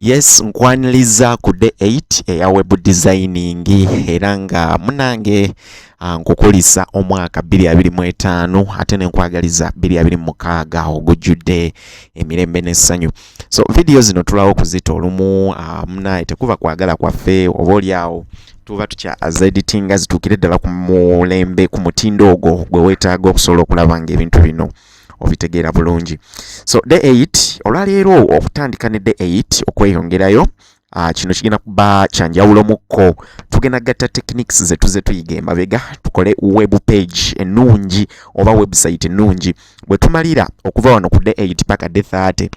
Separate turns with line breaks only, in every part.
Yes, nkwaniliza ku day 8 eya web designing era nga munange ah, nkukulisa omwaka 2025 ate nenkwagaliza 2026 ogujjudde emirembe n'essanyu. So video zino tulawo kuzita olumu ah, munaye tekuba kwagala kwaffe oba oli awo tuba tukya as editing zitukire ddala ku mulembe ku mutindo ogwo gwe wetaaga okusobola okulaba nga ebintu bino obitegeera bulungi so day 8 olwaleero okutandika ne day 8 okweyongerayo Uh, kino kigenda kuba kyanjawulo mukko tugenda gatta techniques zetuze tuyiga emabega tukole web page ennungi oba website ennungi bwe tumalira okuva wano ku day 8 paka day 30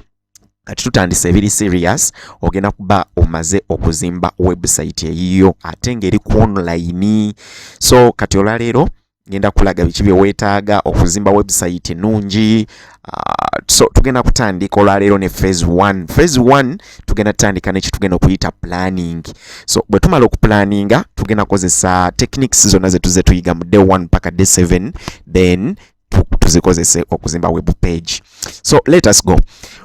kati tutandise ebiri serious ogenda kuba omaze okuzimba website eyiyo ate ng'eri ku online so kati olwaleero ngenda kulaga biki byewetaaga okuzimba website nungi uh, so tugenda kutandika olwaleero ne phase 1 phase 1 tugenda tutandika nekitugenda okuyita planning so bwe tumala okuplaninga tugenda kozesa techniques zonna zetuze tuyiga mu day 1 paka day 7 then tuzikozese okuzimba web page so let us go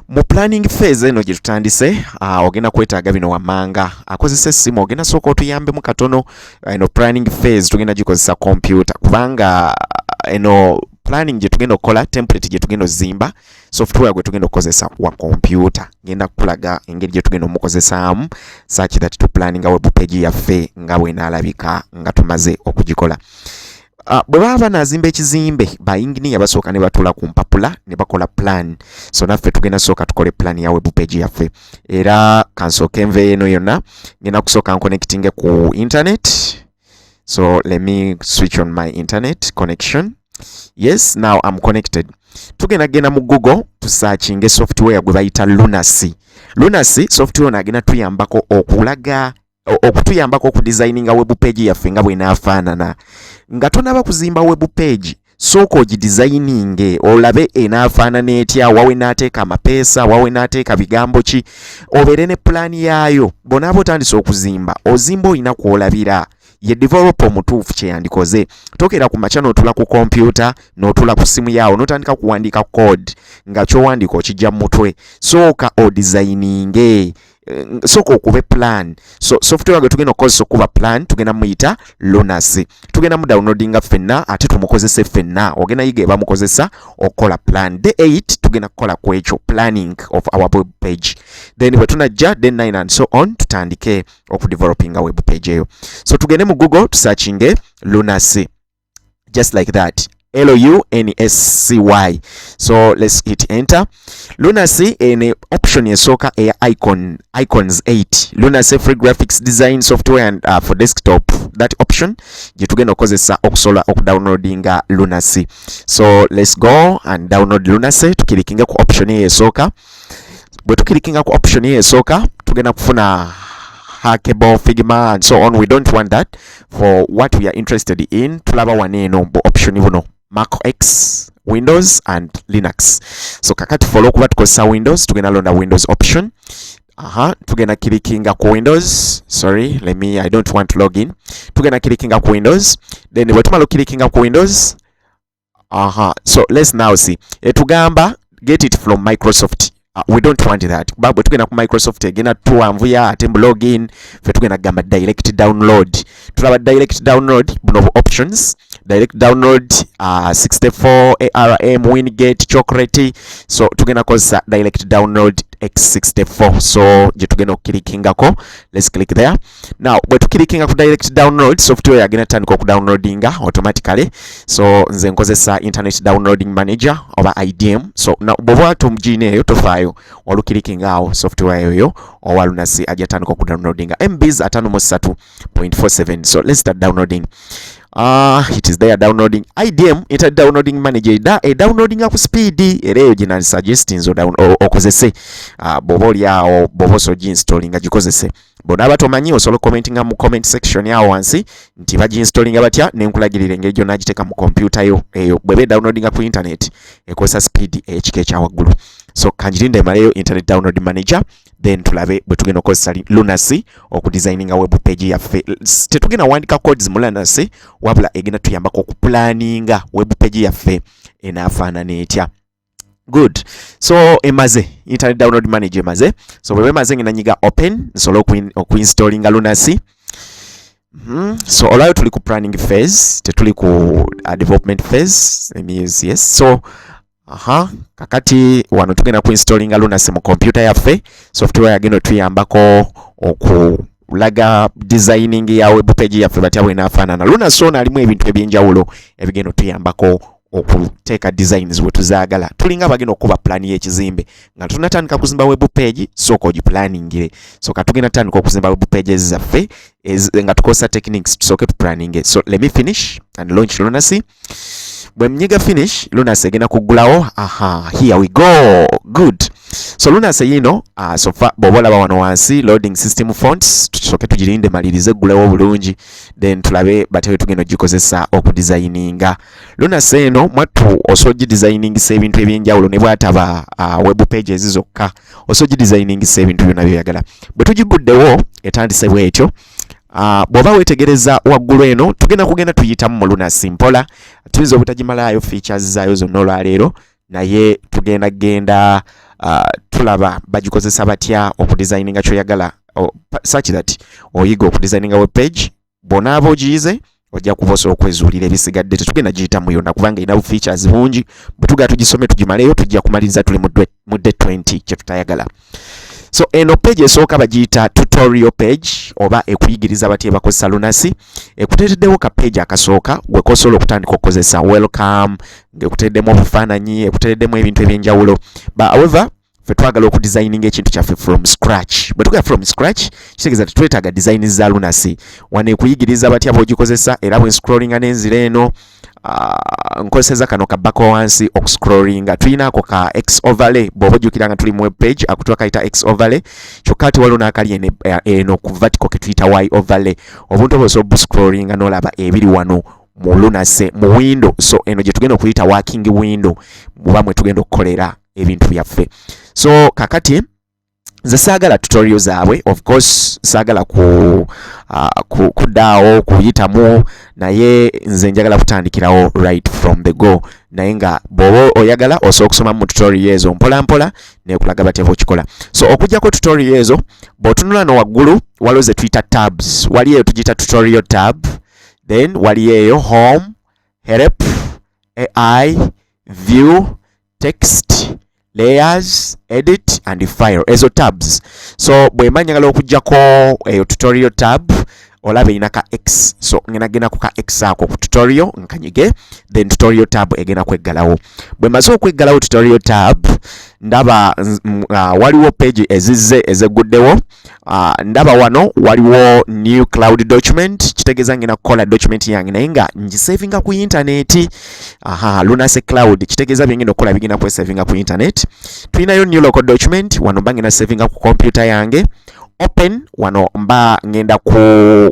mu planning phase eno gye tutandise uh, ogenda kwetaaga bino wammanga akozesa essimu ogenda sooka otuyambemu katono ah, eno planning phase tugenda gikozesa kompyuta kubanga ah, eno planning gye tugenda okukola template gye tugenda ozimba software gwe tugenda okukozesa wa kompyuta ngenda kukulaga engeri gye tugenda omukozesaamu such that to planning web page yaffe nga bwenaalabika nga tumaze okugikola Uh, bwe baba banazimba ekizimbe bayinginiya basooka ne batula ku mpapula ne bakola plan so naffe tugenda sooka tukole plan ya web page yaffe era kansooka enva eno yonna ngenda kusooka nkonekitinge ku internet so let me switch on my internet connection yes now am connected tugenda genda mu google tusakinge software gwe bayita lunacy lunacy software ono agenda tuyambako okulaga okutuyambako okudizayininga webu peegi yaffe nga bwenaafaanana nga tonaba kuzimba webu peegi sooka ogidizayininge olabe enaafaanana etya wawe naateeka amapeesa wawe naateeka bigambo ki obeere ne pulaani yaayo bonaaba otandise okuzimba ozimba olina kwolabira ye developa omutuufu kyeyandikoze tokera ku makya notula ku kompyuta notula ku simu yaawo notandika kuwandiika code nga kyowandiika okijja mu mutwe sooka odizayininge Eh, soka okube plan so software gwe tugenda okukozesa okuba plan tugenda muyita lunas tugenda mu downloadinga fenna ate tumukozese fenna ogenda yiga ebamukozesa okukola plan day 8 tugenda kukola ku ekyo planning of our web page then bwe tunajja day 9 and so on tutandike okudevelopinga web page eyo so tugende mu google tusakinge lunas just like that lunascy so let's hit enter lunacy ene eh, option esooka eya eh, icon icons 8 lunacy free graphics design software and uh, for desktop that option gye tugenda okukozesa okusobola okudownloadinga lunacy so let's go and download lunacy tukirikinga ku option eyo esooka bwe tukirikinga ku option ye esooka tugenda kufuna hackable figma and so on we don't want that for what we are interested in tulaba wano eno bu option buno mac x windows and linux so kakati fe olwokuba tukozesa windows tugenda londa windows option aha tugenda kirikinga ku windows sorry let me i don't want to log in tugenda kirikinga ku windows then bwe tumala okirikinga ku windows aha so let's now see etugamba get it from microsoft uh, we don't want that kuba bwe tugenda ku microsoft egenda tuwanvuya ate mu login fe tugenda kugamba direct download tulaba direct download buno bu options direct download uh, 64 arm wingate chocolate so tugenda kozesa direct download x64 so gye tugenda okukilikingako let's click there now bwe tukirikinga ku direct download software yagenda tutandika okudownloadinga automatically so nze nkozesa internet downloading manager oba idm so bwoba tumjina eyo tofaayo olukirikinga awo software yoyo owa lunasi ajja tandika okudownloadinga mbs atano mu satu point four seven so let's start downloading Ah, uh, it is there downloading IDM inter downloading manager da e downloading ku speed era eyo gina suggest nzo down okozese uh, ah, bobo lyawo bobo so installing agikozese bona aba tomanyi osobola okukomentinga mu comment section awo wansi nti baginstallinga batya nenkulagirira engeri gyonna agiteeka mu kompyuta yo eyo bweba edownloadinga ku internet ekozesa speed eyekika ekya waggulu so kanjirinde emaleyo internet download manager then tulabe bwe tugenda okukozesa lunacy okudesigninga web page yaffe tetugenda wandika codes mu lunacy wabula egenda tuyambako okupulaninga web page yaffe enaafaanana etya good so emaze internet download manager emaze so bwe bemaze ngina nyiga open nsobola okuinstallinga lunacy Mm -hmm. so olwayo tuli ku planning phase tetuli ku uh, development phase means yes so aha kakati wano tugenda ku installinga lunacy mu computer yaffe software yagenda otuyambako oku laga designing ya web page yaffe batya bwenafaanana lunacy ono alimu ebintu ebyenjawulo ebigenda otuyambako okuteeka designs we tuzaagala tulinga abagenda okukuba pulaani y'ekizimbe nga tunatandika kuzimba web page sooka ogipulaaningire so ka tugenda tutandika okuzimba web pages zaffe nga tukozesa techniques tusooke tupulaninge so let me finish and launch lunacy bwe mnyiga finish lunacy egenda kuggulawo aha here we go good so lunacy yiino uh, ah, sofa bw'oba olaba wano wansi loading system fonts tusooke tugirinde malirize eggulewo obulungi then tulabe batewe tugenda ogikozesa okudizayininga Luna seeno mwattu osoji designing se ebintu ebyenjawulo ne bwataba uh, web pages zokka osoji designing se ebintu byona byoyagala bwe tugiguddewo etandise bwetyo Uh, bwoba wetegereza waggulu eno tugenda kugenda tuyitamu mu lunasi mpola tuyinza obutagimalaayo features zaayo zonna olwaleero naye tugenda genda uh, tulaba bagikozesa batya okudesigninga kyoyagala oh, such that oyiga okudesigninga web page bonaaba ogiyize ojja kuba osobola okwezuulira ebisigadde tetugenda giyitamu yonna kubanga erina bu features bungi bwetugaa tugisome tugimaleyo tujja kumaliriza tuli mu de 20 kyetutayagala so eno page esooka bagiyita tutorial page oba ekuyigiriza batya ebakozesa lunasi ekuteereddewo ka page akasooka gwekosobola okutandika okukozesa welcome ngekuteereddemu obufaananyi ekuteereddemu ebintu ebyenjawulo but however fe twagala okudesigninga ekintu kyaffe from scratch bwe tugera from scratch kitegeeza tetwetaaga design za lunasi wanekuyigiriza batya bwogikozesa era bwe nscrollinga nenzira eno ah, nkozeseza kano kabako wansi okuscrollinga tulina ako ka x overlay bwoba ojjukira nga tuli mu web page akutuwa kayita x overlay kyokka ati waliwo n'akali eno eh, eh, ku vertical ke tuyita y overlay obuntu oba osobola obuscrollinga n'olaba ebiri wano mu lunase mu window so eno gye tugenda okuyita working window muba mwe tugenda okukolera ebintu byaffe so kakati nze saagala tutorial zaabwe of course saagala ku, uh, ku, kudaawo kuyitamu naye nze njagala kutandikirawo right from the go naye nga bwoba oyagala osobola okusoma mu tutorial ezo mpola mpola nekulaga batya bwokikola so okujjako tutorial ezo bw'otunula no waggulu waliwo ze tuyita tabs wali eyo tugiyita tutorial tab then wali eyo home help ai view text layers edit and file ezo tabs so bwemba njagala okujjako eyo tutorial tab olaba erina ka x so ngena genda ku ka x ako ku tutorial nkanyige then tutorial tab egenda kweggalawo bwe maze okweggalawo tutorial tab ndaba uh, waliwo page ezizze ezegguddewo Uh, ndaba wano waliwo new cloud document kitegeeza ngenda kukola document yange naye nga ngisavinga ku intaneti aha lunase cloud kitegeeza byengenda okukola bigenda kwesavinga ku intaneti tulinayo new local document wano mba ngenda savinga ku kompyuta yange open wano mba ngenda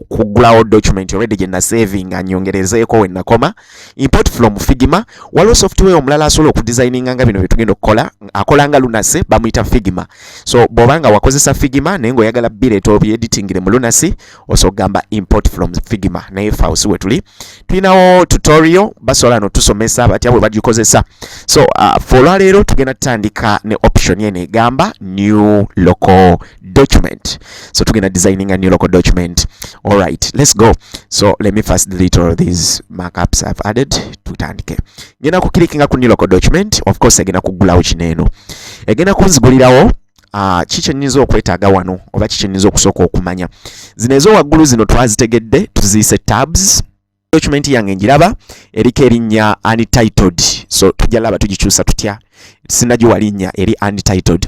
kugulawo document already gye nasavinga nyongerezeeko we nakoma import from figma waliwo software omulala asobola okudesigninga nga bino byetugenda okukola akola nga lunasi bamuyita figma so bwoba nga wakozesa figma naye ngaoyagala bireeta obyeditingire mu lunasi osobola okugamba import from figma naye fausi wetuli tulinawo tutorial basobola notusomesa batya bwe bagikozesa so uh, fe olwaleero tugenda tutandika ne option eno egamba new local document so tugenda designing a new local document all right let's go so let me first delete all these markups i've added tutandike ngenda ku clickinga ku new local document of course egenda kugulawo kino eno egenda kunzigulirawo Ah, kiki nnyinza okwetaaga wano oba kiki nnyinza okusooka okumanya zino ezowaggulu zino twazitegedde tuziyise tabs document yange njiraba eriko erinnya untitled so tujja laba tugikyusa tutya sinagiwa linnya eri untitled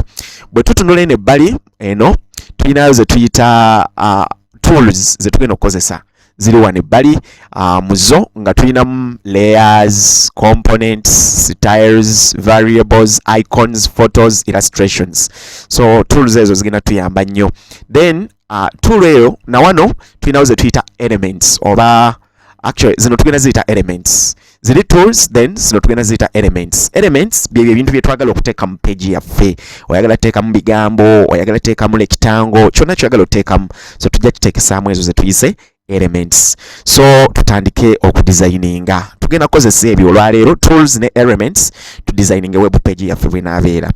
bwe tutunula eno ebbali eno tulinayo ze tuyita uh, tools ze tugenda okukozesa ziri wano ebbali uh, mu zo nga tulinamu layers components styles variables icons photos illustrations so tools ezo zigenda tuyamba nnyo then uh, tool eyo na wano tulinawo ze tuyita elements oba actually zino tugenda ziyita elements ziri tools then zino tugenda ziyita elements elements byebyo ebintu byetwagala okuteeka mu page yaffe oyagala teekamu bigambo oyagala teekamu lekitango kyonna kyoyagala oteekamu so tujja kiteekesaamu ezo zetuyise elements so tutandike okudesigninga tugenda kukozesa ebyo olwaleero tools ne elements to designing web page yaffe bwenaabeera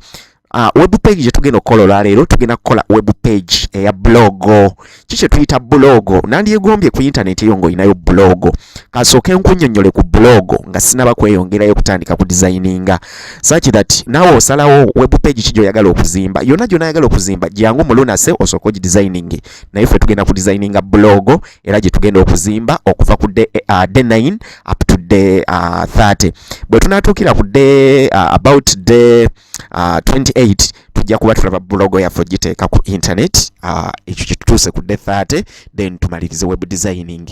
Uh, web page gye tugenda okukola olwaleero tugenda kukola web page eya blogo ki kye tuyita blogo nandyegombye ku internet eyo ng'olinayo blogo kasooke nkunyonnyole ku blogo nga sinaba kweyongerayo kutandika ku designinga such that naawe osalawo web page ki gy'oyagala okuzimba yonna gy'onayagala okuzimba jangu mulunase osooke ogidesigninge naye ffe tugenda ku designinga blog era gye tugenda okuzimba okuva ku day, uh, day 9 up to day uh, 30 bwe tunaatuukira ku day uh, about day uh, 28 tujja kuba tulaba blog yaffe ogiteeka ku internet uh, ekyo uh, kitutuuse ku day 30 then tumalirize web designing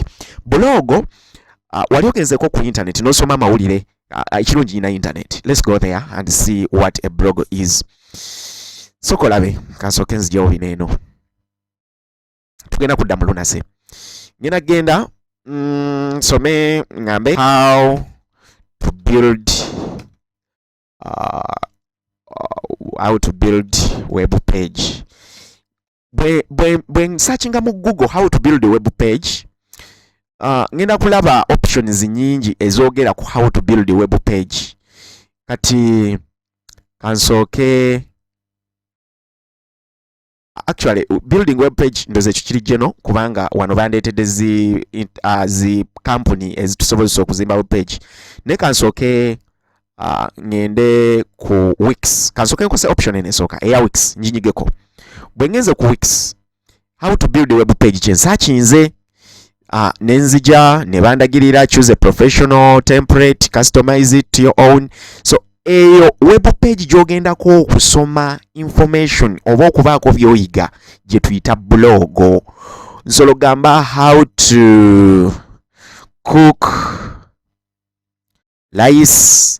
blog uh, wali ogenzeko ku internet nosoma amawulire uh, ekirungi ina internet let's go there and see what a blog is sokolabe kansooke nzijawo bino eno tugenda kudda mu lunaze ngenda genda mm, nsome mm, ngambe how to build uh, uh, how to build web page bwe nsachinga mu google how to build a web page uh, ngenda kulaba options nyingi ezogera ku how to build a web page kati kansooke actually building web page ndoze kikiri geno kubanga wano bandetede zi uh, zi company ezitusobozesa okuzimba web page ne kansoke uh, ngende ku wix kansoke nkose option ene soka eya wix njinyigeko bwengenze ku wix how to build a web page kyensa kinze uh, nenzija nebandagirira choose a professional template customize it to your own so eyo web page gyogendako okusoma information oba okubaako byoyiga gye tuyita blog nsolo gamba how to cook layisi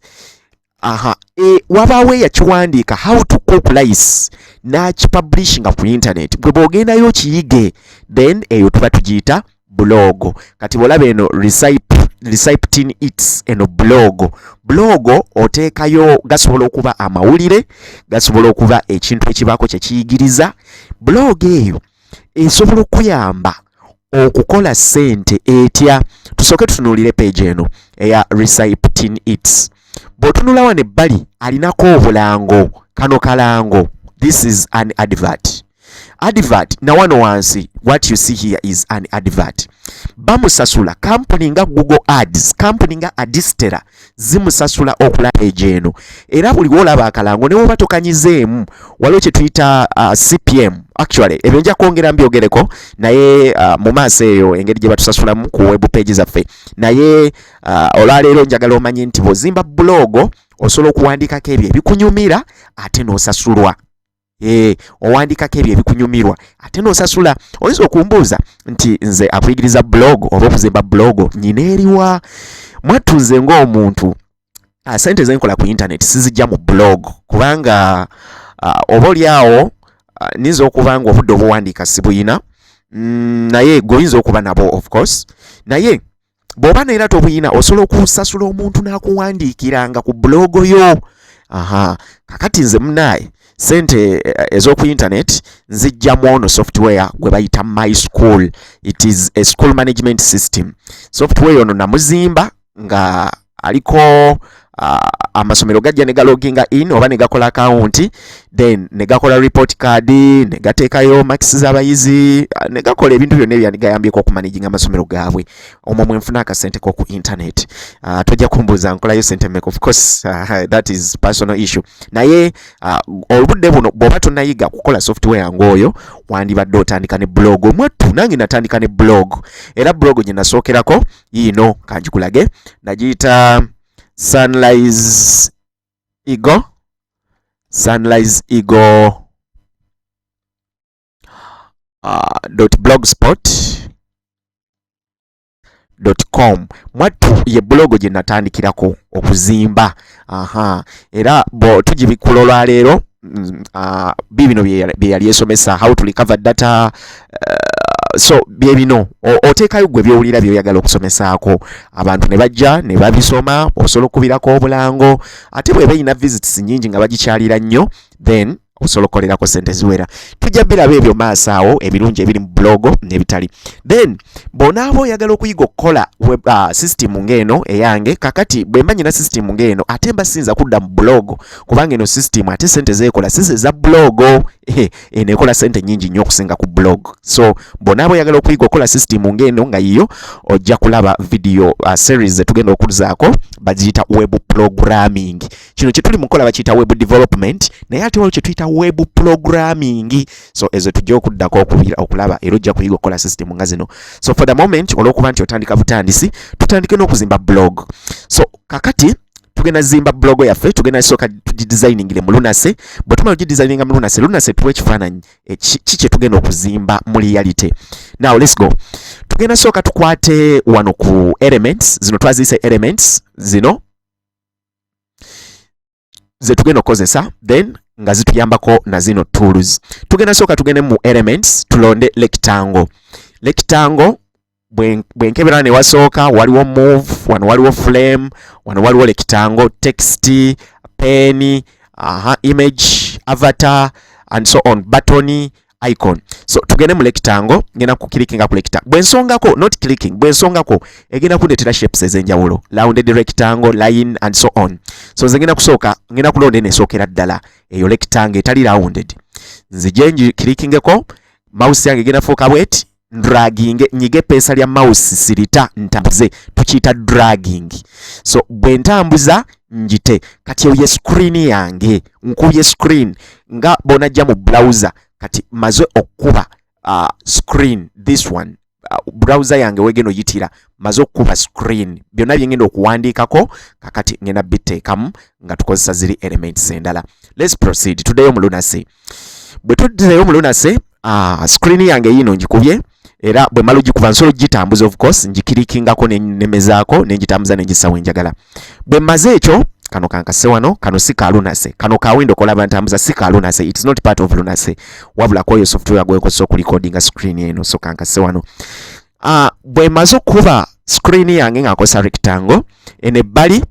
aha e, wabaawo eyakiwandiika how to cook rice n'akipublishinga ku intaneti gwe bw'ogendayo okiyige then eyo tuba tugiyita bulogo kati bw'olaba eno recyptin its eno bulogo bulogo oteekayo gasobola okuba amawulire gasobola okuba ekintu ekibaako kye kiyigiriza bulogo eyo esobola okuyamba okukola sente etya tusooke tutunuulire page eno eya recyptin its bw'otunula wano ebbali alinako obulango kano kalango this is an advert advert na wano wansi what you see here is an advert bamusasula kampuni nga google ads kampuni nga adistera zimusasula okulaba egyo eno era buli wolaba akalango ne woba tokanyizeemu waliwo kye tuyita uh, cpm actually ebyo nja kwongera mbyogereko naye uh, mu maaso eyo engeri gye batusasulamu ku web page zaffe naye uh, olwaleero njagala omanye nti bwozimba bulogo osobola okuwandiikako ebyo ebikunyumira ate n'osasulwa Eh, owandikako ebyo ebikunyumirwa ate nosasula oyinza okumbuuza nti nze akuyigiriza blog oba okuzimba blog nyina eriwa mwattu nze ngaomuntu ah, sente zenkola ku intaneti sizijja mu blog kubanga ah, oba oli awo ah, ninza okuba nga obudde obuwandiika sibuyina mm, naye goyinza okuba nabo of course naye bw'oba neera tobuyina osobola okusasula omuntu n'akuwandiikiranga ku bulogo yo aha kakati nze munaaye sente eh, ez'oku internet nzijjamu ono software gwe bayita my school it is a school management system software ono namuzimba nga aliko uh, amasomero gajja ne galoginga in oba ne gakola akawunti then ne gakola report card ne gateekayo makisi z'abayizi ne gakola ebintu byonna ebyandigayambyeko okumanaginga amasomero gaabwe omwo mwe nfuna akasente ko ku internet uh, tojja kumbuuza nkolayo sente mek of course uh, that is personal issue naye uh, olubudde buno bw'oba tonayiga kukola software ng'oyo wandibadde otandika ne blog omwattu nange natandika ne blog era blog gye nasookerako yiino kanjikulage nagiyita sunrise eagle sunrise eagle uh, dot blogspot dot com mwattu ye bulogo gye natandikirako okuzimba aha era bo tugibikula olwaleero mm, ah, bibino byeyali esomesa how to recover data uh, so byebino oteekayo gwe byowulira byoyagala okusomesaako abantu ne bajja ne babisoma osobola okukubirako obulango ate bweba erina visits nyingi nga bagikyalira nnyo then osobola okukolerako sente ziwera tujja biraba ebyo maaso awo ebirungi ebiri mu bulogo nebitali then bonaaba oyagala okuyiga okukola uh, system ng'eno eyange kakati bwemba nyina system ng'eno ate mba siyinza kudda mu bulogo kubanga eno system ate sente zeekola sisi eza bulogo eh, eno ekola sente nyingi nnyo okusinga ku blog so bonaaba oyagala okuyiga okukola system ng'eno nga yiyo ojja kulaba video uh, series zetugenda okuzaako bagiyita web programming kino kyetuli mukola bakiyita web development naye ate waliwo kyetuyita web programming so ezo tujja okuddako okulaba era ojja kuyiga okukola system nga zino so for the moment olwokuba nti otandika butandisi tutandike n'okuzimba blog so kakati tugenda zimba blog yaffe tugenda soka tugidesigningle mu lunase bwe tumala ogidesigninga mu lunase lunase tuwa ekifaananyi eh, ki kye tugenda okuzimba mu reality now let's go tugenda soka tukwate wano ku elements zino twaziyise elements zino ze tugenda okukozesa then nga zituyambako na zino tools tugenda sooka tugende mu elements tulonde lectangle lectangle bwenkebera ne wasooka waliwo move wano waliwo flame wano waliwo lectangle text pen aha image avatar and so on button icon so tugende mu rectangle ngenda ku clickinga ku rectangle bwensongako not clicking bwensongako egenda kundetera shapes ezenjawulo rounded rectangle line and so on so nze ngenda kusooka ngenda kulonda eno esookera ddala eyo rectangle etali rounded nzije nji clickingeko mouse yange egenda fuuka bweti ndraginge nyige epeesa lya mouse sirita ntambuze tukiyita dragging so bwe ntambuza njite kati eyo ye screen yange nkubye screen nga bonajja mu browser kati maze okukuba uh, screen this one uh, browser yange wegena oyitira maze okukuba screen byonna byengenda okuwandiikako kakati ngenda biteekamu nga tukozesa ziri elements endala let's proceed tuddeyo mu lunasi bwe tuddireyo mu lunase uh, screen yange yiino ngikubye era bwe mala ogikuba nsobola ogitambuza of course ngikirikingako nenemezaako nengitambuza nengissa wenjagala bwe mmaze ekyo kano kankase wano kano si ka lunase kano ka windo kolaba ntambuza si ka lunase it is not part of lunase wabula kwoyo software gwekozesa okulikodinga screen eno so kankase wano uh, bwe maze okukuba screen yange nga nkozesa rectangle eno ebbali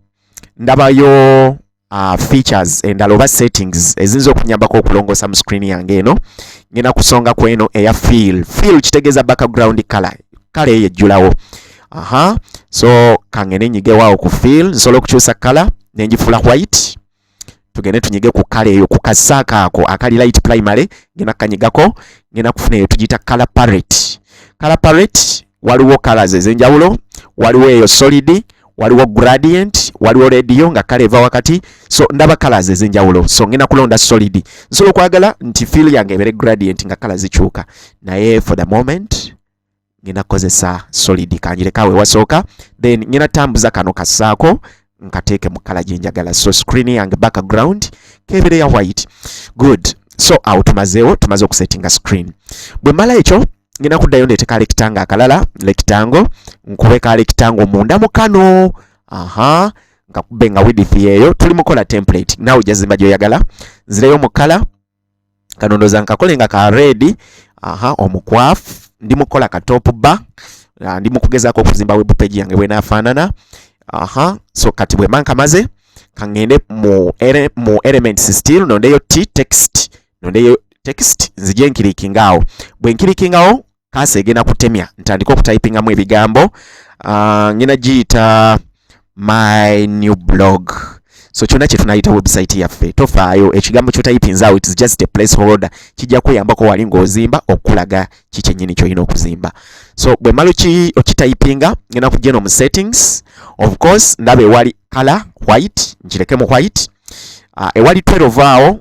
ndabayo uh, features endala oba settings eziyinza okunyambako okulongoosa mu screen yange eno ngenda kusonga ku eno eya feel feel kitegeeza background color kale eyo ejjulawo aha so kangende nyigewaawo ku feel nsobola okukyusa kala nenjifula white tugende tunyige ku kala eyo ku kasaaka ako akali light primary ngenda kanyigako ngenda kufuna eyo tugiyita kala parrot kala parrot waliwo colors ezenjawulo waliwo eyo solid waliwo gradient waliwo radio nga kale eva wakati so ndaba colors ezenjawulo so ngenda kulonda solid nsobola okwagala nti feel yange ebere gradient nga colors zikyuka naye for the moment ngenda kukozesa solid kanjirekawe wasooka then ngenda tambuza kano kasaako nkateeke mu kala gyenjagala so screen yange background kebere ya white good so awo tumazeewo tumaze okusettinga screen bwe mala ekyo ngenda kuddayo ndeete ka lekitanga akalala lekitango nkube ka lekitango munda mu kano aha nkakube nga widith yeeyo tuli mukola template naawe jazimba gyoyagala nzireyo mu kala kanondoza nkakole nga ka redi aha omukwafu ndi mukola ka top ba ah, ndi mukugezaako okuzimba webupeji yange bwenafaanana aha so kati bwemba nkamaze kangende mu, ere, mu elements still nondeyo t text nondeyo text nzije nkirikingawo bwe nkirikingawo kansa egenda kutemya ntandika okutypingamu ebigambo uh, ngenda giyita my new blog so kyona kyetunayita website yaffe tofaayo ekigambo kyotayipinzaawo its just a place holder kijja kuyambako wali ngaozimba okukulaga kikyenyini kyolina okuzimba so bwe mala okitayipinga ngenda kujja eno mu settings of course ndaba ewali color white nkireke mu white uh, ewali 12 awo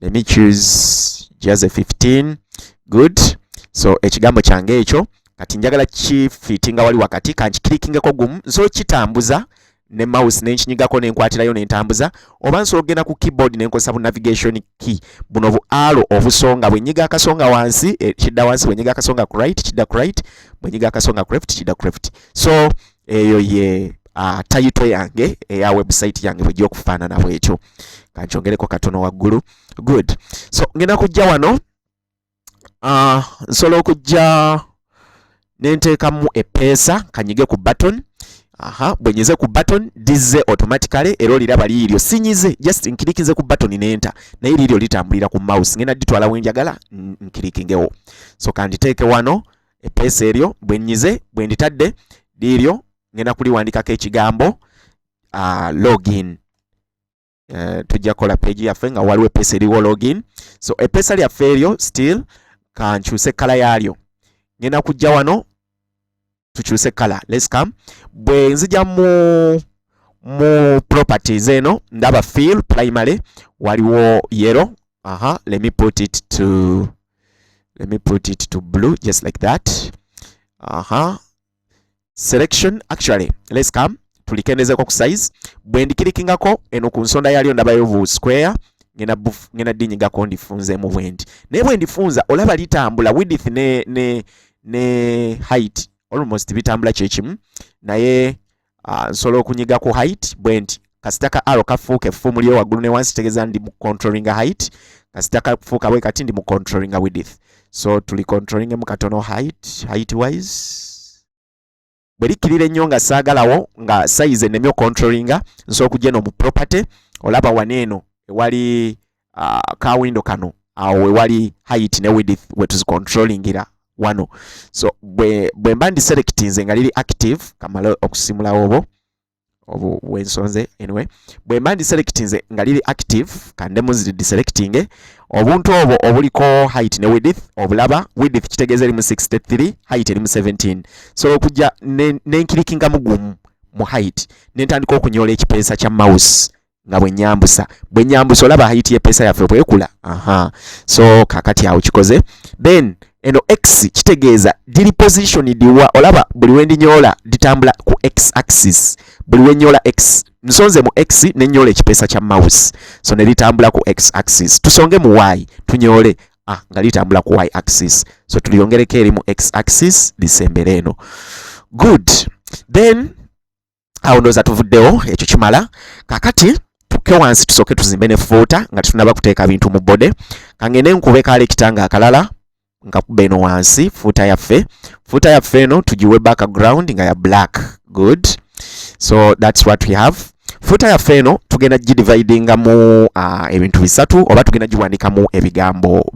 let me choose just a 15 good so ekigambo kyange ekyo kati njagala kifiti nga wali wakati kankikirikingako gumu nsobola kitambuza ne mouse nenkinyigako nenkwatirayo nentambuza oba nsobola okugenda ku keyboard nenkozesa bu navigation key buno bu alo obusonga bwenyiga akasonga wansi eh, kidda wansi bwenyiga akasonga ku right kidda ku right bwenyiga akasonga ku left kidda ku left so eyo ye uh, tayito yange eya website yange bwejja okufaanana bwekyo kankyongereko katono waggulu good so ngenda kujja wano uh, nsobola okujja nenteekamu epeesa kanyige ku button aha bwenyeze ku button dizze automatically era oliraba liiryo sinyize just nkirikinze ku button nenta naye liiryo litambulira ku mouse ngenda ditwala wenjagala nkirikingewo so kanditeeke wano eppeesa eryo bwe nnyize bwe nditadde liiryo ngenda kuliwandikako ekigambo uh, login uh, tujja kukola peegi yaffe nga waliwo eppeesa eriwo login so eppeesa lyaffe eryo still kankyuse ekkala yaalyo ngenda kujja wano tukyuse kala let's come bwe nzija mu mu properties eno ndaba feel primary waliwo yero aha let me put it to let me put it to blue just like that aha selection actually let's come tulikendezeko ku size bwe ndikirikingako eno ku nsonda yalyo ndabayo vu square ngena buf ngena dinyi gako ndifunze mu bwendi naye bwe ndifunza olaba litambula width ne ne ne height almost bitambula kyekimu naye uh, nsobola okunyiga ku height bwe nti kasita ka arrow kafuuka effumu lyo waggulu ne wansi tegeza ndi mu controlling height kasita kafuuka bwe kati ndi mu controlling width so tuli controlling mu katono height height wise bwe likkirira ennyo nga saagalawo nga size ennemye ocontrollinga nsobola okugya eno mu property olaba wano eno ewali uh, ka window kano awo uh, wewali height ne width wetuzicontrollingira wano so bwe, bwe mba ndi selectinze nga liri active kamala okusimulawo obo obu wensonze anyway bwe mba ndi selectinze nga liri active kande muziri deselectinge obuntu obwo obuliko height ne width obulaba width kitegeeza erimu 63 height erimu 17 sobola okujja nenkirikingamu ne gumu mu height nentandika okunyoola ekipeesa kya mouse nga bwe nyambusa bwe nyambusa olaba height ye pesa yaffe bwekula aha so kakati awo kikoze then eno x kitegeeza diri position diwa olaba buli wendi nyola ditambula ku x axis buli wenyola x nsonze mu x ne nyola ekipesa kya mouse so ne litambula ku x axis tusonge mu y tunyole ah nga litambula ku y axis so tuliyongereko eri mu x axis lisembere eno good then awo ndowooza tuvuddewo ekyo kimala kakati tukke wansi tusooke tuzimbe ne fuuta nga tetunaba kuteeka bintu mu bode kangende nkube kaala ekitanga akalala nga kuba eno wansi fuuta yaffe fuuta yaffe eno tugiwe background nga ya black good so that's what we have fuuta yaffe eno tugenda gidividingamu uh, ebintu bisatu oba tugenda giwandikamu ebigambo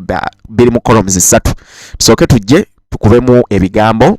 biri mu columns zisatu tusooke tujje tukubemu ebigambo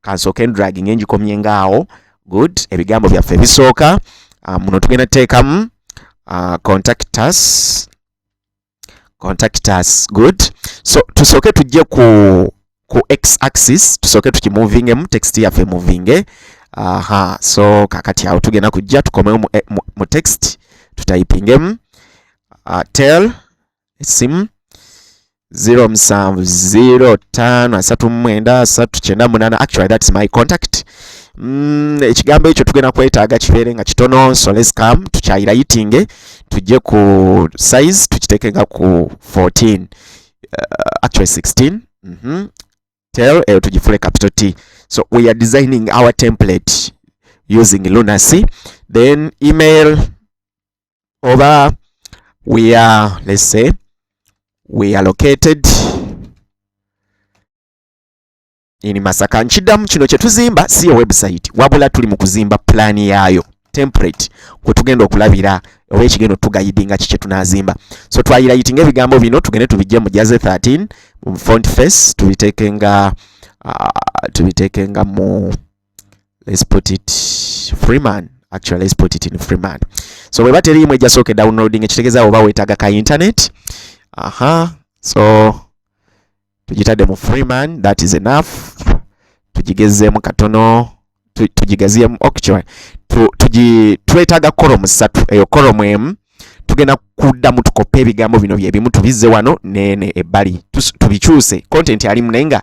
kansooke ndraging engikomye ngaawo good ebigambo byaffe ebisooka ah, muno tugenda teekamu ah, contactus contactus good so tusooke tujje ku ku x axis tusooke tukimovingemu text yaffe movinge aha so kakati awo tugenda kujja tukomewo mu, eh, mu, mu text tutayipingemu uh, ah, tell essimu 07055379 actually that's my contact mm, ekigambo ekyo tugenda kwetaaga kibeere nga kitono so let's come tukyayira yitinge tujje ku size tukiteeke nga ku 14 uh, actually 16 mm -hmm. tel eyo tugifule capital t so we are designing our template using lunacy then email oba we are let's say we are located in Masaka nkidamu kino kye tuzimba si ya website wabula tuli mu kuzimba plan yaayo template kwe tugenda okulabira oba ekigendo tugayidinga kikye tunazimba so twayira yitinga ebigambo bino tugende tubijje mu jaze 13 mu font face tubitekenga uh, tubitekenga mu let's put it freeman actually let's put it in freeman so bweba teriimu ejjasooke downloading ekitegeza oba wetaaga ka internet aha so tugitadde mu freeman that is enough tugigezeemu katono tugigaziyemu actually twetaaga kolomu ssatu eyo kolomu emu tugenda kuddamu tukoppe ebigambo bino byebimu tubizze wano nene ebbali tubikyuse content alimu naye nga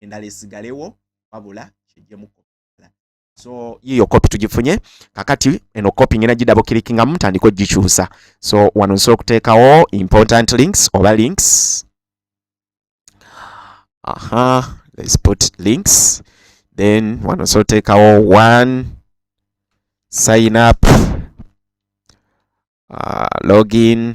endala esigalewo wabula kyejemu so yiyo kopi tugifunye kakati eno kopi ngena gidabo kilikinga mutandika ogikyusa so wano nsobola okuteekawo important links oba links aha let's put links then wano nsobola oteekawo one sign up uh, login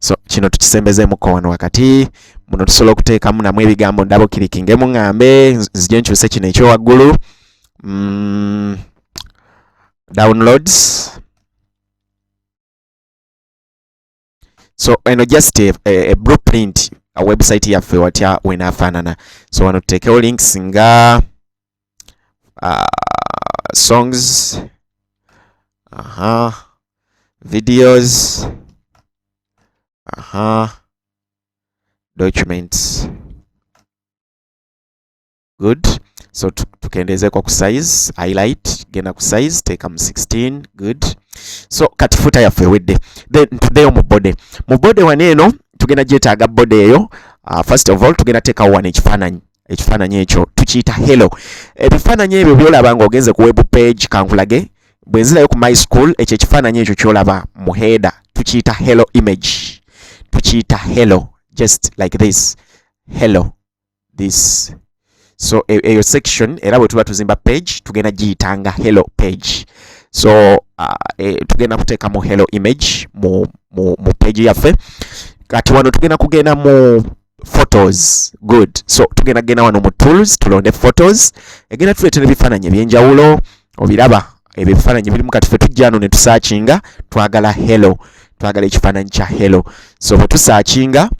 so kino tukisembezeemuko wano wakati muno tusobola okuteekamu namu ebigambo ndaba okirikinge muŋŋambe nzije nkyuse kino ekyowaggulu mm, downloads so eno just a, a, a blueprint a website yaffe watya wenafaanana so wano tuteekewo links nga uh, songs aha videos aha documents good so tukendeeze kwa ku size highlight genda ku size teeka mu 16 good so kati futa yaffe ewedde then tuddeyo mu body mu body wano eno tugenda gyetaaga body eyo uh, first of all tugenda teekawo wano ekifaananyi ekifaananyi ekyo tukiyita hello ebifaananyi ebyo byolaba nga ogenze ku web page kankulage bwe nzirayo ku my school ekyo ekifaananyi ekyo kyolaba mu header tukiyita hello image tukiyita hello just like this hello this so e, eyo section era bwe tuba tuzimba page tugenda giyitanga hello page so uh, e, tugenda kuteeka mu hello image mu, mu, mu page yaffe kati wano tugenda kugenda mu photos good so tugenda genda wano mu tools tulonde photos egenda tuleetera ebifaananyi ebyenjawulo obiraba ebyo ebifaananyi birimu kati fe tujjano ne tusaakinga twagala hello twagala ekifaananyi kya hello so bwe tusaakinga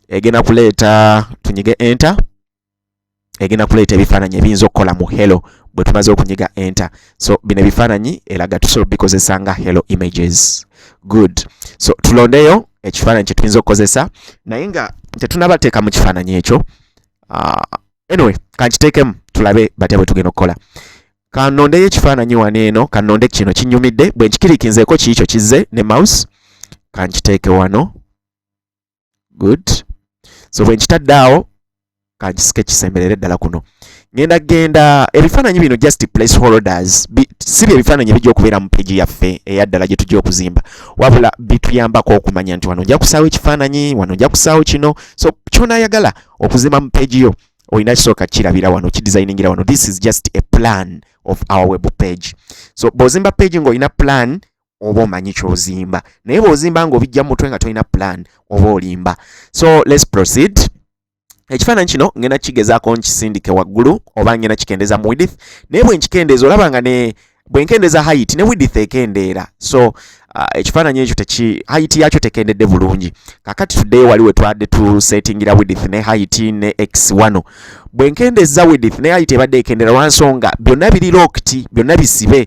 egenda kuleeta tunyige enter egenda kuleeta ebifaananyi ebiyinza okukola mu hello bwe tumaze okunyiga enter so bino ebifaananyi eraga tusobola obikozesa nga hello images good so tulondeyo ekifaananyi kye tuyinza okukozesa naye nga tetunabateeka mu kifaananyi ekyo uh, anyway kankiteekemu tulabe batya bwe tugenda okukola kanondeyo ekifaananyi wano eno kanonde kino kinyumidde bwe nkikirikinzeeko kiikyo kizze ne mouse kankiteeke wano good so bwe nkitadde awo kankisike kisemberere ddala kuno ngenda genda ebifaananyi bino just place holders si bye ebifaananyi ebijja okubeera mu peegi yaffe eyaddala gye tujja okuzimba wabula bituyambako okumanya nti wano nja kusaawo ekifaananyi wano nja kusaawo kino so kyonayagala okuzimba mu peegi yo olina kisooka kirabira wano kidesigningira wano this is just a plan of our web page so bw'ozimba peegi ng'olina plan oba omanyi kyozimba naye bwozimba nga obijja mutwe nga tolina plan oba olimba so let's proceed ekifaananyi kino ngenda kigezaako nkisindike waggulu oba ngenda kikendeza mu widith naye bwenkikendeza olaba nga ne bwenkendeza height ne widith ekendeera so uh, ekifaananyi ekyo teki height yakyo tekendedde bulungi kakati today wali wetwadde tu settingira widith ne height ne x wano bwenkendeza widith ne height ebadde ekendera lwansonga byonna biri lokti byonna bisibe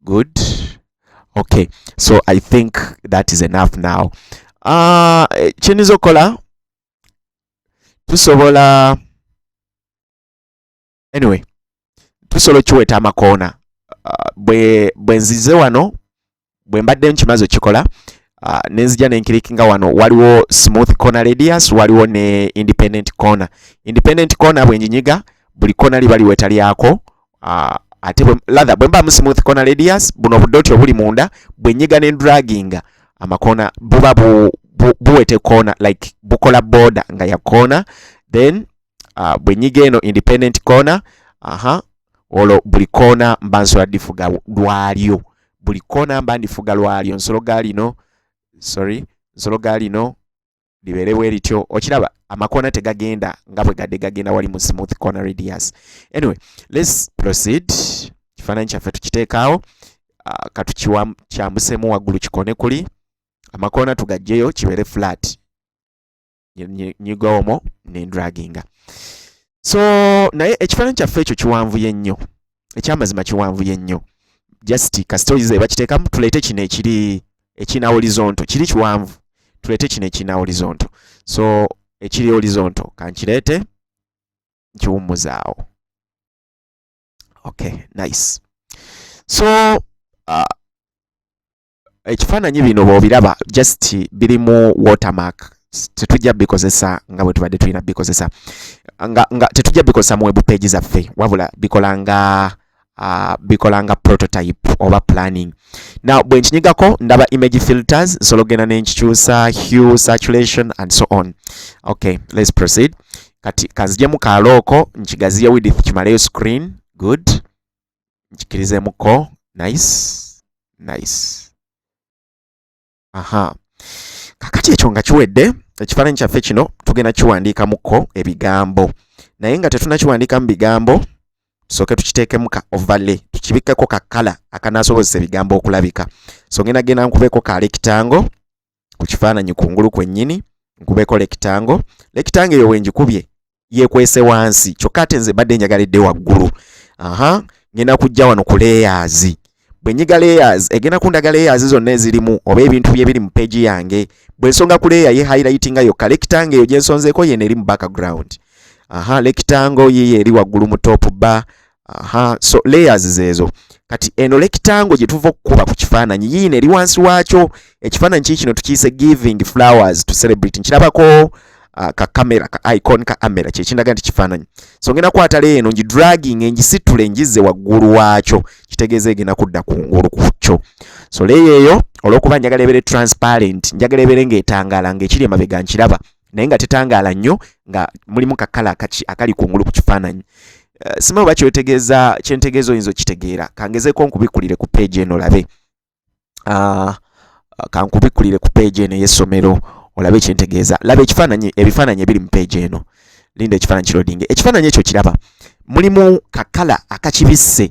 good okay so i think that is enough now uh, kyenyiza okukola tusobola anyway tusobola okiweta amakoona uh, bwe bwenzize wano bwe mbadde nkimaze okikola uh, nenzija nenkirikinga wano waliwo smooth corner radius waliwo ne independent corner independent corner bwenjinyiga buli corner liba liweta lyako ah, ate lather bwe mba mu smooth corner radius buno obudoti obuli munda bwe nyiga ne draginga amakona buba bu, bu, buwete corner like bukola border nga ya corner then uh, bwe nyiga eno independent corner aha uh -huh. olwo buli koona mba nsobola difuga lwalyo buli koona mba ndifuga lwalyo nsolo ga lino sorry nsolo ga lino libeere bwe lityo okiraba amakoona tegagenda nga bwe gadde gagenda wali mu smooth corner radius anyway let's proceed ekifaananyi kyaffe tukiteekaawo ah, katukikyambusemu waggulu kikone kuli amakoona tugajjeyo kibeere flat nyigowomo nendraginga so naye ekifaananyi kyaffe ekyo kiwanvuye nnyo ekyamazima kiwanvu yennyo just kasita oyize bakiteekamu tuleete kino ekiri ekina horizonto kiri kiwanvu tuleete kino ekina horizonto so ekiri horizonto kankireete nkiwummuzaawo okay nice so uh, ekifaananyi bino bwobiraba just birimu watermark tetujja bikozesa nga bwe tubadde tulina bikozesa nga, nga tetujja bikozesa mu web page zaffe wabula bikola nga uh, bikola nga prototype oba planning now bwe nkinyigako ndaba image filters nsobola okugenda ne nkikyusa hue saturation and so on okay let's proceed kati kanzijemu kaalooko nkigaziye widith kimaleyo screen good nkikirizemuko nice nice aha kakati ekyo nga kiwedde ekifaananyi kyaffe kino tugenda kiwandiikamuko ebigambo naye nga tetunakiwandiikamu bigambo tusooke tukiteekemu ka overlay tukibikkeko ka kala akanaasobozesa ebigambo okulabika so ngenda genda nkubeko ka lekitango ku kifaananyi kungulu kwennyini nkubeko lekitango lekitango eyo wengikubye yekwese wansi kyokka ate nze mbadde njagala edde waggulu aha ngenda kujja wano ku leyazi bwe nyiga leyazi egenda kundaga leyazi zonna ezirimu oba ebintu bye biri mu peegi yange bwe nsonga ku leya ye hayilayitinga yokka lekitango eyo gye nsonzeeko yeno eri mu background aha lekitango yiyo eri waggulu mu topu ba aha so layers zezo kati eno lekitango gyetuva okukuba ku kifaananyi yiino eri wansi waakyo ekifaananyi kii kino tukiyise giving flowers to celebrate nkirabako uh, ka kamera ka icon ka amera kyekindaga nti kifaananyi so ngenda kwata leyo eno ngidragging engisitule ngize waggulu waakyo kitegeeza egenda kudda ku ngulu ku kyo so leyo eyo olwokuba njagala ebere transparent njagala ebere ng'etangaala ng'ekiri emabega nkiraba naye nga tetangaala nnyo nga mulimu kakala akaki akali kungulu ku kifaananyi eh, sima oba kyotegeeza kyentegeeza oyinza okitegeera kangezeeko nkubikulire ku peegi eno olabe ah, kankubikulire ku peegi eno ey'essomero olabe kyentegeeza laba ekifaananyi ebifaananyi ebiri mu peegi eno linda ekifaananyi kirodinge ekifaananyi ekyo kiraba mulimu kakala akakibisse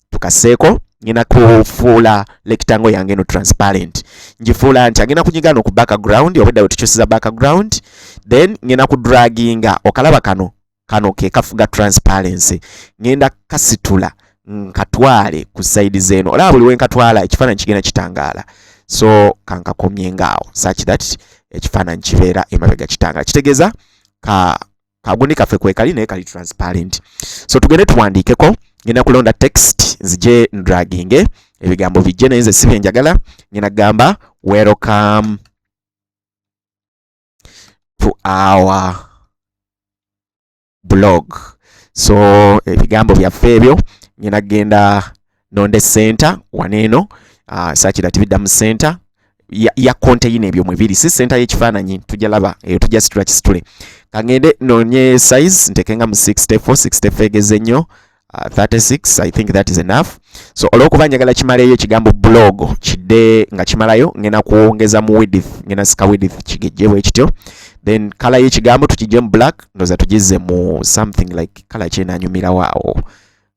tukaseeko ngenda kufuula lekitango yange no transparent ngifuula nti agenda kunyiga no ku background obwedda wetukyusiza background then ngenda ku draginga okalaba kano kano ke kafuga transparency ngenda kasitula nkatwale ku side zeno olaba buli wenkatwala ekifaananyi kigenda kitangaala so kankakomye ngaawo such that ekifaananyi kibeera emabega kitangaala kitegeeza ka kaguni kaffe kwekali naye kali transparent so tugende tuwandiikeko ngenda kulonda text nzije ndraginge ebigambo bijje naye nze sibe njagala ngenda kugamba welcome to our blog so ebigambo byaffe ebyo ngenda kugenda nonde center waneeno uh, sakira tibidda mu center ya, ya konteyina ebyo mwe biri si center y'ekifaananyi tujja laba eyo tujja situla kisitule kangende nonye size ntekenga mu 64 64 egeze nnyo 36 uh, i think that is enough so olwokuba njagala kimaleyo ekigambo blog kidde nga kimalayo ngena kuwongeza mu width ngena sika width kigejje bwe kityo then kala y'ekigambo tukijje mu black ndoza tugizze mu something like kala kyenanyumirawo awo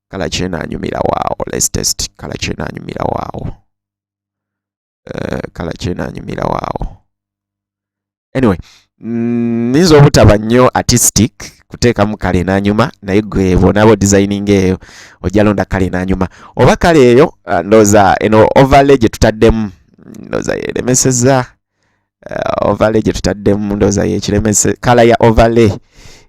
kala kyena anyumira waawo let's test kala kyena anyumira waawo uh, kala kyena anyumira waawo anyway mm, nyinza mm, obutaba nnyo artistic kuteekamu kale nanyuma naye gwe bwonaaba odisayininga eyo ojja londa kale nanyuma oba kale eyo uh, ndooza eno overlay gye tutaddemu mm, ndooza yeremeseza uh, overlay gye tutaddemu ndooza yekiremese kala ya overlay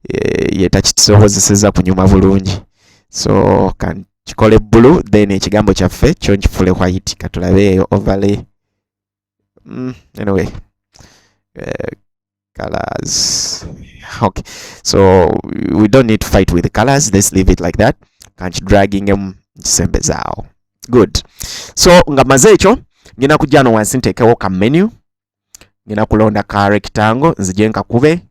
eh, yetakisobozeseza kunyuma bulungi so kan kikole blue then ekigambo kyaffe kyo nkifule white katulabe eyo overlay mm, anyway uh, colors okay so we don't need to fight with the colors let's leave it like that kankidragingemu nkisembezawo good so nga maze ekyo ngenda kujja wano wansi nteekewo ka menu ngenda kulonda ka rectangle nzije nkakube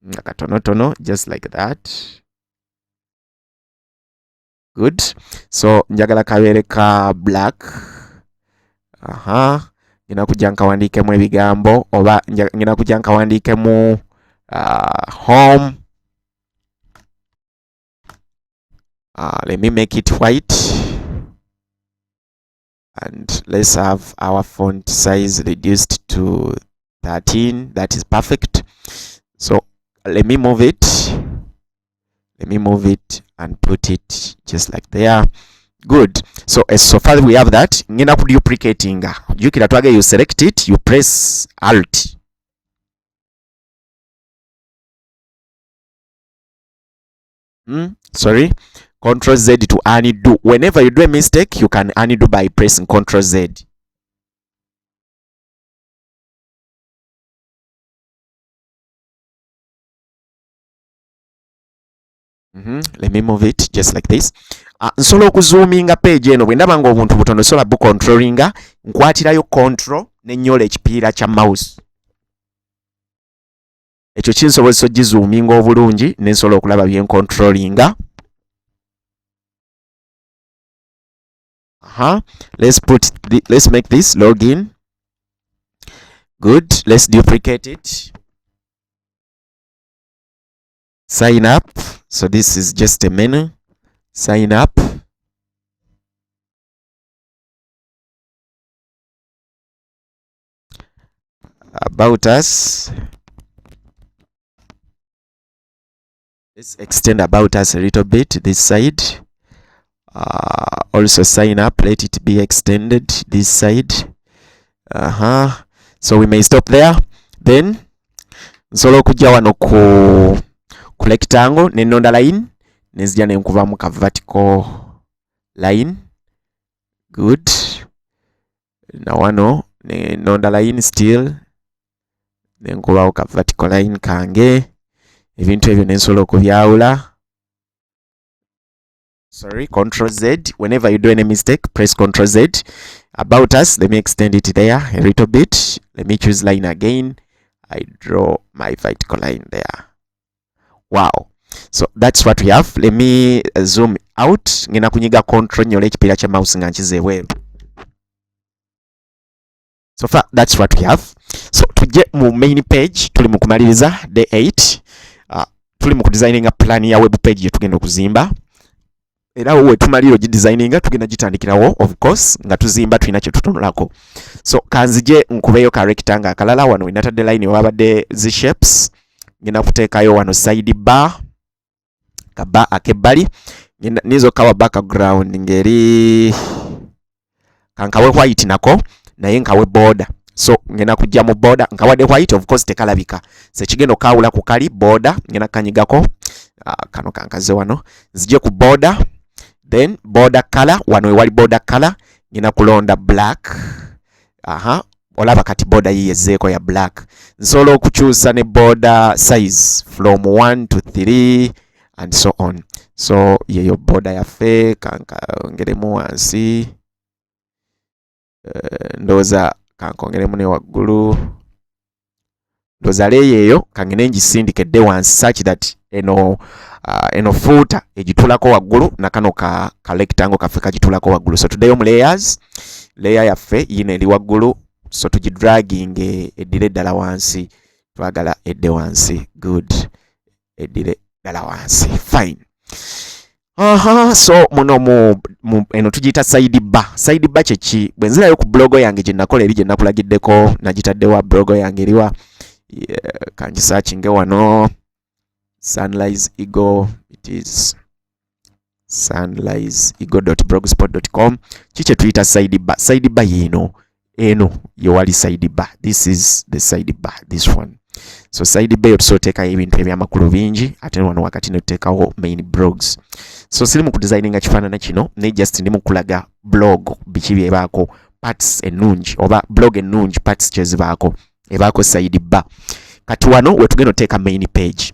nga katonotono just like that good so njagala kabeere ka black aha ngenda kujja nkawandiikemu ebigambo oba ngenda kujja nkawandiikemu uh, home uh, let me make it white and let's have our font size reduced to 13 that is perfect so let me move it let me move it and put it just like there good so as eh, so far we have that ngenda ku duplicating jukira twage you select it you press alt hmm? sorry control z to undo whenever you do a mistake you can undo by pressing control z Mm -hmm. Let me move it just like this. Uh, nsobola okuzoominga page eno bwe ndaba ng'obuntu butono sobola bucontrollinga nkwatirayo control ne nyola ekipiira kya mouse ekyo kinsobozesa ogizuuminga obulungi nensobola okulaba byencontrolinga aha let's put the, let's make this login good let's duplicate it sign up so this is just a menu sign up about us let's extend about us a little bit this side uh, also sign up let it be extended this side uh-huh so we may stop there then nsobola okujja wano ku ku rectangle ne nonda line nenzija ne nkuvamu ka vertical line good na wano ne nonda line still ne nkubawo ka vertical line kange ebintu ebyo ne nsobola okubyawula sorry control z whenever you do any mistake press control z about us let me extend it there a little bit let me choose line again i draw my vertical line there wow so that's what we have let me uh, zoom out ngenda kunyiga control nyole ekipiira kya mouse nga nkiza ebweru so far that's what we have so tujje mu main page tuli mu kumaliriza day 8 uh, tuli mu kudesigninga plan ya web page yetugenda okuzimba era wowe tumaliro gi designinga tugenda gitandikirawo of course nga tuzimba tulina kye tutunulako so kanzije nkubeyo ka rectangle akalala wano wenatadde line wabadde zi shapes ngenda kuteekayo wano side bar ka bar akebbali ninza okukawa background ngeri kankawe white nako naye nkawe boda so ngena kujja mu boda nkawade white of course tekalabika sekigendo kawula ku kali boda ngena kanyigako uh, ah, kano kankaze wano nzije ku boda then boda color wano ewali boda color ngena kulonda black aha olaba kati boda yiye zeeko ya black nsobola okukyusa ne boda size from 1 to 3 and so on so yeyo boda yaffe kankongeremu wansi uh, ndowooza kankongeremu ne waggulu ndoza leeyo eyo kangene ngisindike dde wansi such that eno uh, eno fuuta egitulako waggulu nakano ka kalectango kaffe kagitulako waggulu so tuddeyo mu layers layer yaffe yino eri waggulu so tugidraginge eddire eddala wansi twagala edde wansi good eddire dala wansi fine Aha, so muno mu, mu eno tugiyita side bar. Side bar kyeki bwe nzirayo ku blogo yange gye nakola eri gye nakulagiddeko nagitaddewa blogo yange eriwa yeah, kangisakinge wano sunrise eagle it is sunrise igo.blogspot.com kikye tuyita side bar side bar yino eno yewali side bar this is the side bar this one so side bar yo tusoteekayo ebintu ebyamakulu bingi ate wano wakati ne tuteekawo main blogs so siri mu kudesigninga kifaanana kino naye just ndi mukulaga blog biki byebaako parts ennungi oba blog ennungi parts kyezibaako ebaako side bar kati wano wetugenda oteeka main page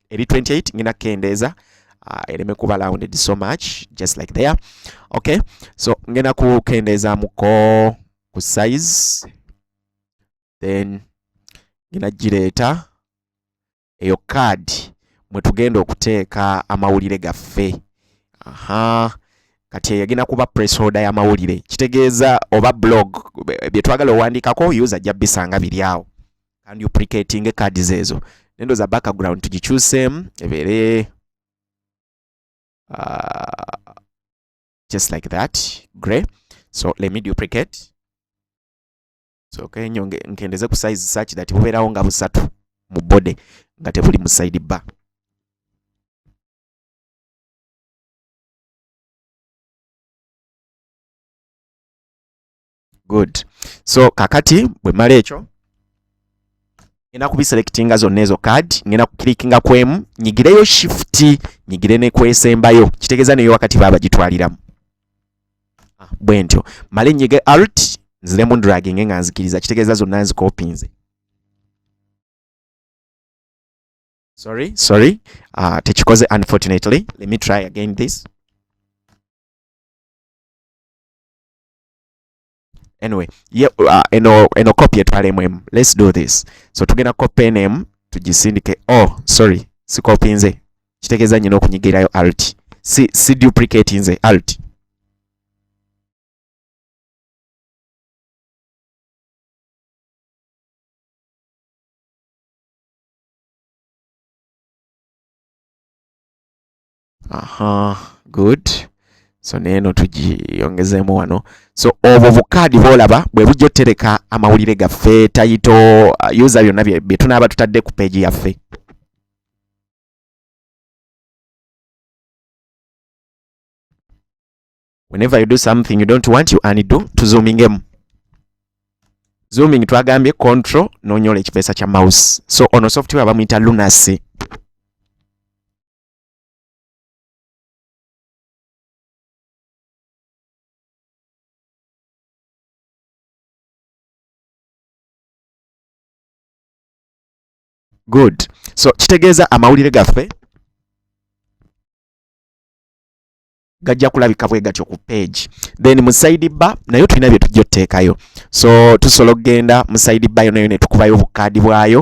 eri 28 ngina kendeeza uh, ereme kuba rounded so much just like there okay so ngenda kukendeezamuko ku size then ngina gireeta eyo card mwe tugenda okuteeka amawulire gaffe aha kati eyo egenda kuba presholder y'amawulire kitegeeza oba blog bye twagala owandiikako user ajja bisanga biri awo can duplicating card zezo nendo za background tugikyuseemu ebeere uh, just like that grey so let me duplicate so okay, nyo nkendeze ku size such that bubeerawo nga busatu mu body nga tebuli mu side bar good so kakati bwe mala ekyo ngenda kubiselectinga zonna ezo card ngenda kukilikinga kwemu nyigireyo shift nyigire ne kwesembayo kitegeeza neyo wakati baba gitwaliramu ah, bwe ntyo male nyige alt nziremu draginge nga nzikiriza kitegeeza zonna nzikopinze sorry sorry uh, tekikoze unfortunately let me try again this anyway yeah, uh, eno eno copy etwalemu emu let's do this so tugenda copy eno emu tugisindike oh sorry si copy nze kitegeeza nyina okunyigirayo alt si, si duplicate nze alt aha good so neeno tugiyongezemu wano so obwo bukaadi bwolaba bwe bujja otereka amawulire gaffe tayito uh, user byonna bye tunaaba tutadde ku peegi yaffe whenever you do something you don't want you undo tuzoomingemu zooming twagambye control nonyola ekipeesa kya mouse so ono software bamuyita lunacy good so kitegeeza amawulire gaffe gajja kulabika bwe gatyo ku page then mu side bar nayo tulina bye tujja oteekayo so tusobola okugenda mu side bar yonayo ne tukubayo obukaadi bwayo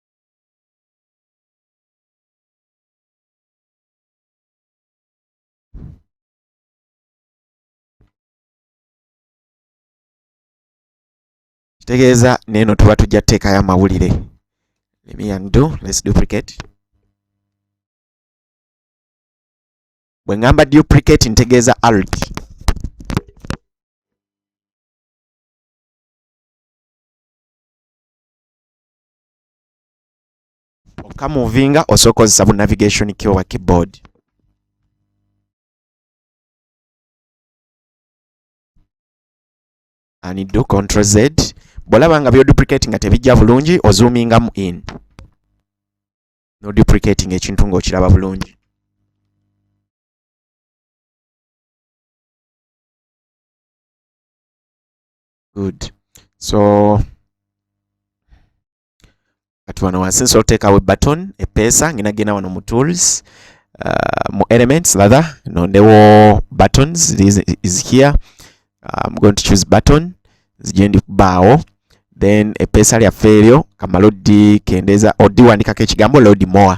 kitegeeza neeno tuba tujja teekayo amawulire let me undo let's duplicate bwe ngamba duplicate ntegeeza alt okamuvinga osooka kozesa bu navigation key oba keyboard ani do control z bwolaba nga byoduplicate nga tebijja bulungi ozuumingamu in noduplicating ekintu ngaokiraba bulungi good so kati wano wansi nsobola oteekawo button epeesa ngina genda wano mu tools uh, mu elements latha nondewo buttons this is here uh, i'm going to choose button zigye ndi kubaawo then epeesa lyaffe eryo kamala odikendeeza odiwandikako ekigambo load more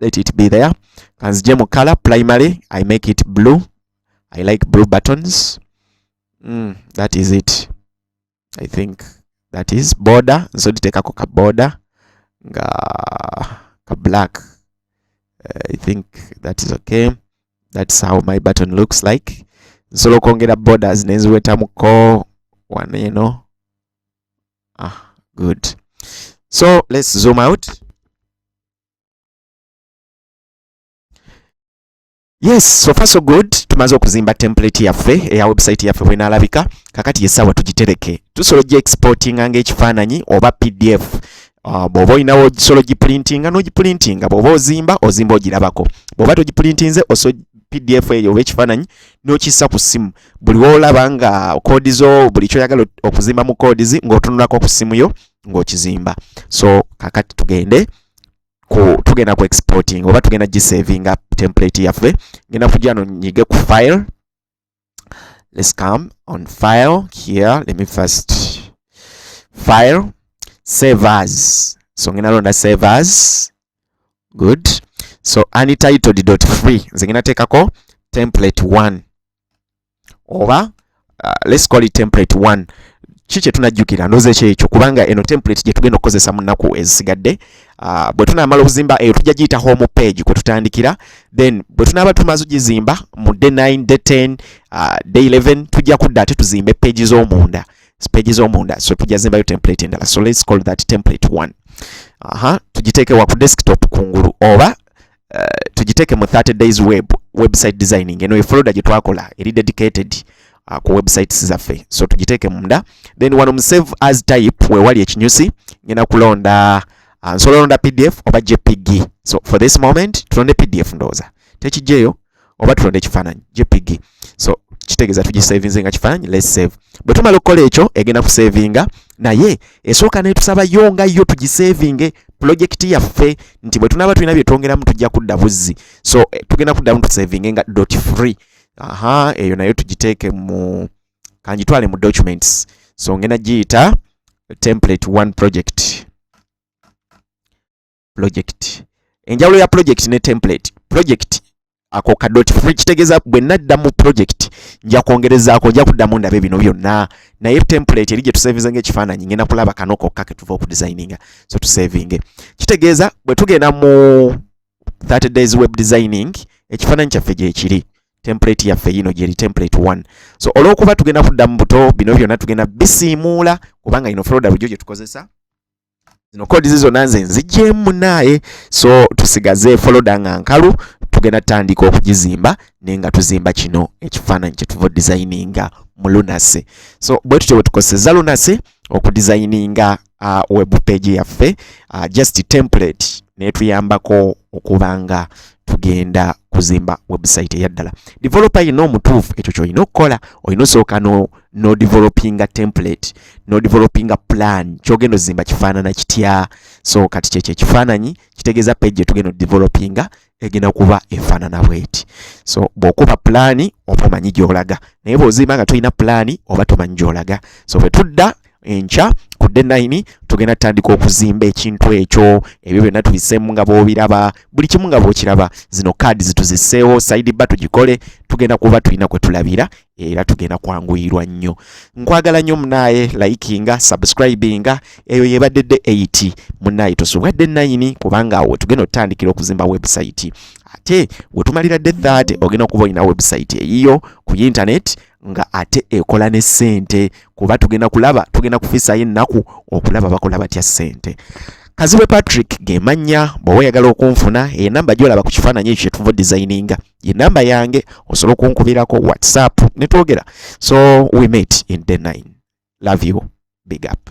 let it be there kanzije mu color primary i make it blue i like blue buttons mm, that is it i think that is border nso nditekako ka border nga ka black uh, i think that is okay that's how my button looks like nsobola okwongera borders nenziwetamuko one you know ah good so let's zoom out yes so far so good tumaze okuzimba template yaffe eya website yaffe bwenalabika kakati yesawa tugitereke tusobola ogi exportinga ngaekifaananyi oba pdf uh, bwoba olinawo osobola ogiprintinga nogiprintinga bwoba ozimba ozimba ogirabako bwoba togipurintinze oso pdf eyo oba ekifaananyi nokissa ku ssimu buli woolaba nga koodi zo buli kyoyagala okuzimba mu koodi zi ng'otunulako ku ssimu yo ng'okizimba so kakati tugende ku tugenda ku exporting oba tugenda gisavinga template yaffe ngenda kujja no nyige ku file let's come on file here let me first file save as so ngenda londa save as good so untitled dot free nze ngenda teekako template 1 oba uh, let's call it template 1 ki kye tunajjukira ndoza ekyo ekyo kubanga eno template gye tugenda okukozesa mu nnaku ezisigadde uh, bwe tunaamala okuzimba eyo tujja giyita home page kwe tutandikira then bwe tunaaba tumaze ogizimba mu day 9 day 10 uh, day 11 tujja kudda ate tuzimbe page z'omunda page z'omunda so tujazimbayo template endala so let's call that template 1 aha tugiteeke wa ku desktop kungulu oba uh, tugiteeke mu 30 days web website designing eno efolder gye twakola eri dedicated uh, ku websites zaffe so tugiteeke munda then wano mu save as type wewali ekinyusi ngenda kulonda uh, nsobola olonda pdf oba jpg so for this moment tulonde pdf ndowooza tekijjeeyo oba tulonda ekifaananyi jpg so kitegeeza tugisavinze nga kifaananyi let's save bwe tumala okukola ekyo egenda kusavinga naye esooka netusaba yo nga yo tugisavinge pulojekiti yaffe nti bwe tunaaba tulina bye twongeramu tujja kudda buzzi so eh, tugenda kuddamu tusavinge nga dot free aha eyo nayo tugiteeke mu kanjitwale mu documents so ngenda giyita template one project project enjawulo ya project ne template project ako ka dot free kitegeza bwe nadda mu project nja kwongerezaako nja kuddamu ndabe bino byonna naye template eri gye tusavinze nga ekifaananyi ngenda kulaba kano kokka ke tuva okudesigninga so tusavinge kitegeeza bwe tugenda mu 30 days web designing ekifaananyi kyaffe gyekiri template yaffe yino gyeri template 1 so olwokuba tugenda kudda mu buto bino byonna tugenda bisiimuula kubanga ino folda bujo gye tukozesa zino kodi zizona nze nzigyemu naaye so tusigaze foloda nga nkalu tugenda tutandika okugizimba naye nga tuzimba kino ekifaananyi kyetuva odizayininga mu lunase so bwe tutyo bwe tukozeseza lunase okudizayininga uh, web page yaffe uh, just template netuyambako okubanga tugenda kuzimba website eyaddala developer yina omutuufu ekyo kyolina okukola olina osooka no no developing a template no developing a plan kyogendo zimba kifanana kitya so kati kye kye kifananyi kitegeza page tugendo developing egena kuba efanana bweti so bokuba plan oba manyi gyolaga naye bozimba nga tulina plan oba tomanyi gyolaga so betudda encha ku day 9 tugenda tandika okuzimba ekintu ekyo ebyo byonna tubisemu nga bobiraba buli kimu nga bokiraba zino card zituziseewo side ba tugikole tugenda kuba tulina kwe tulabira era tugenda kwanguyirwa nnyo nkwagala nnyo munaaye likinga subscribinga eyo yebadde de 8 munaaye tosubwa de 9 kubanga awo tugenda otutandikira okuzimba website ate wetumalira de 30 ogenda okuba olina website eyiyo ku internet nga ate ekola ne sente kuba tugenda kulaba tugenda kufisayo ennaku okulaba bakola batya sente kazibwe patrick gemanya bwoba oyagala okunfuna enamba gyolaba ku kifaananyi ekyo kyetuva designinga ye namba yange osobola okunkubirako whatsapp netwogera so we meet in day 9 love you big up